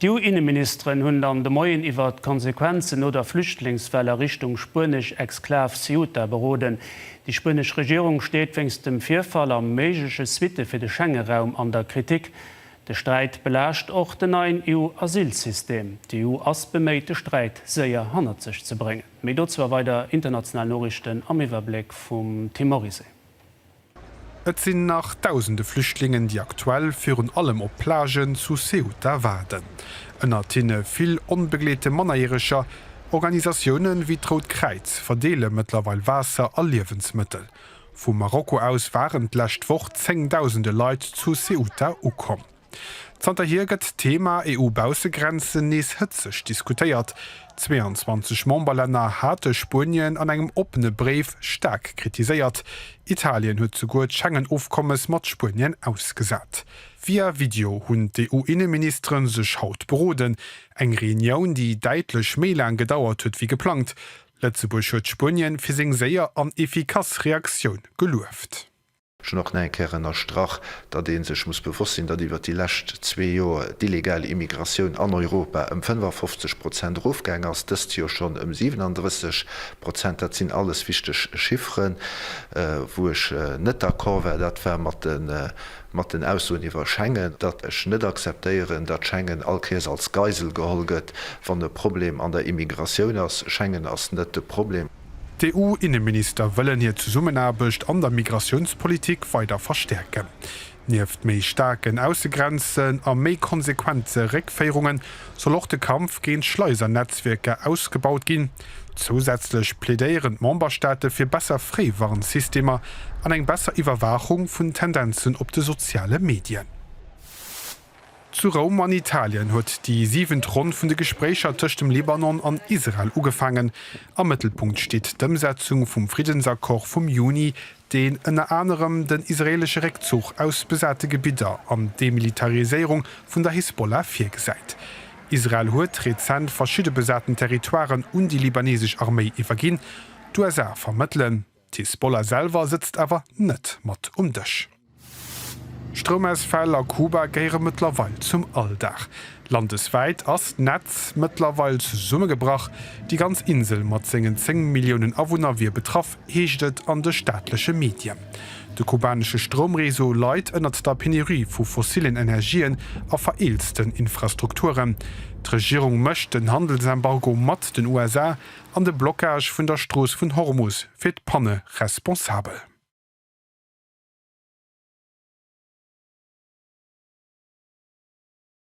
D'EU-Inneministeren hunn dann de Moien iwwert d'Konsequenzen no der Flüchtlingswell a Richtung spuenesch Exklav Ceuta beroden. Déi spuenesch Regierung steet wéinst dem Virfall a méigleche Suitte fir de Schengeraum an der Kritik. De Sträit belaascht och den neien EU-Asylsystem. D'EU ass beméit, de Sträit séier hannert sech ze bréngen. Méi dozou a weider international Noriichten am Iwwerbléck vum Tim Morisset. Et sinn nach dausende Flüchtlingen, déi aktuell virun allem op Plagen zu Ceuta waarden. Ënnert hinne vill onbegleete Mannerjäreger. Organisatioune wéi d'Rout Kräiz verdeele mëttlerweil Waasser a Liewensmëttel. Vu Marokko aus waren d'lescht Woch zéngdausende Leit zu Ceuta ukomm. Zanterhier gëtt d'Thema EU-Baussegrenzen nees hëtzeg diskutéiert. 22 Memberlänner hate Spuenien an engem oppene Bréif staark kritiséiert. Italien huet souguer d'Schengen-Ofkommes mat Spuenien ausgesat. Via Video hunn d'EU-Inneministere sech haut beroden. Eng Reunioun, déi däitlech méi laang gedauert huet wéi geplangt. Lëtzebuerg huet Spuenien fir seng séier an efficace Reaktioun gelueft. Ech hunn och nach eng Kéier ënnerstrach, datt ee sech muss bewosst sinn, datt iwwer déi lescht zwee Joer d'illegal Immigratioun an Europa ëm 55 Prozent erofgaang ass, dëst Joer schonn ëm 37 Prozent. Dat sinn alles wichteg Chifferen. Wou ech net d'accord war, dat war mat den Aussoen iwwer Schengen, datt ech net akzeptéieren, datt Schengen all Kéiers als Geisel geholl gëtt, wann e Problem an der Immigratioun ass. Schengen ass net de Problem. D'EU-Inneminister wëllen hir Zesummenaarbecht an der Migratiounspolitik weider verstäerken. Nieft méi staarken Aussegrenzen a méi konsequente Réckféierunge soll och de Kampf géint Schleisernetzwierker ausgebaut ginn. Zousätzlech plädéieren d'Memberstaate fir besser Fréiwarnsystemer an eng besser Iwwerwaachung vun Tendenzen op de soziale Medien. Zu Roum an Italien huet déi siwent Ronn vun de Gespréicher tëscht dem Libanon an Israel ugefaangen. Am Mëttelpunkt steet d'Ëmsetzung vum Friddensaccord vum Juni, deen ënner anerem den israeelesche Réckzuch aus besate Gebidder an d'Demilitariséierung vun der Hisbollah virgesäit. Israel huet rezent verschidde besaten Territoiren un déi libanesesch Arméi iwwerginn. D'USA vermëttelen. D'Hisbollah selwer sëtzt awer net mat um Dësch. Stroumausfäll a Kuba gehéiere mëttlerweil zum Alldag. Landeswäit ass d'Netz mëttlerweil zesummegebrach. Déi ganz Insel mat sengen 10 Milliounen Awunner wier betraff, heescht et an de staatleche Medien. De kubanesche Stroumreseau leit ënnert der Penurie vu fossillen Energien a vereelzten Infrastrukturen. D'Regierung mécht den Handelsembargo mat den USA an de Blockage vun der Strooss vun Hormus fir d'Panne responsabel.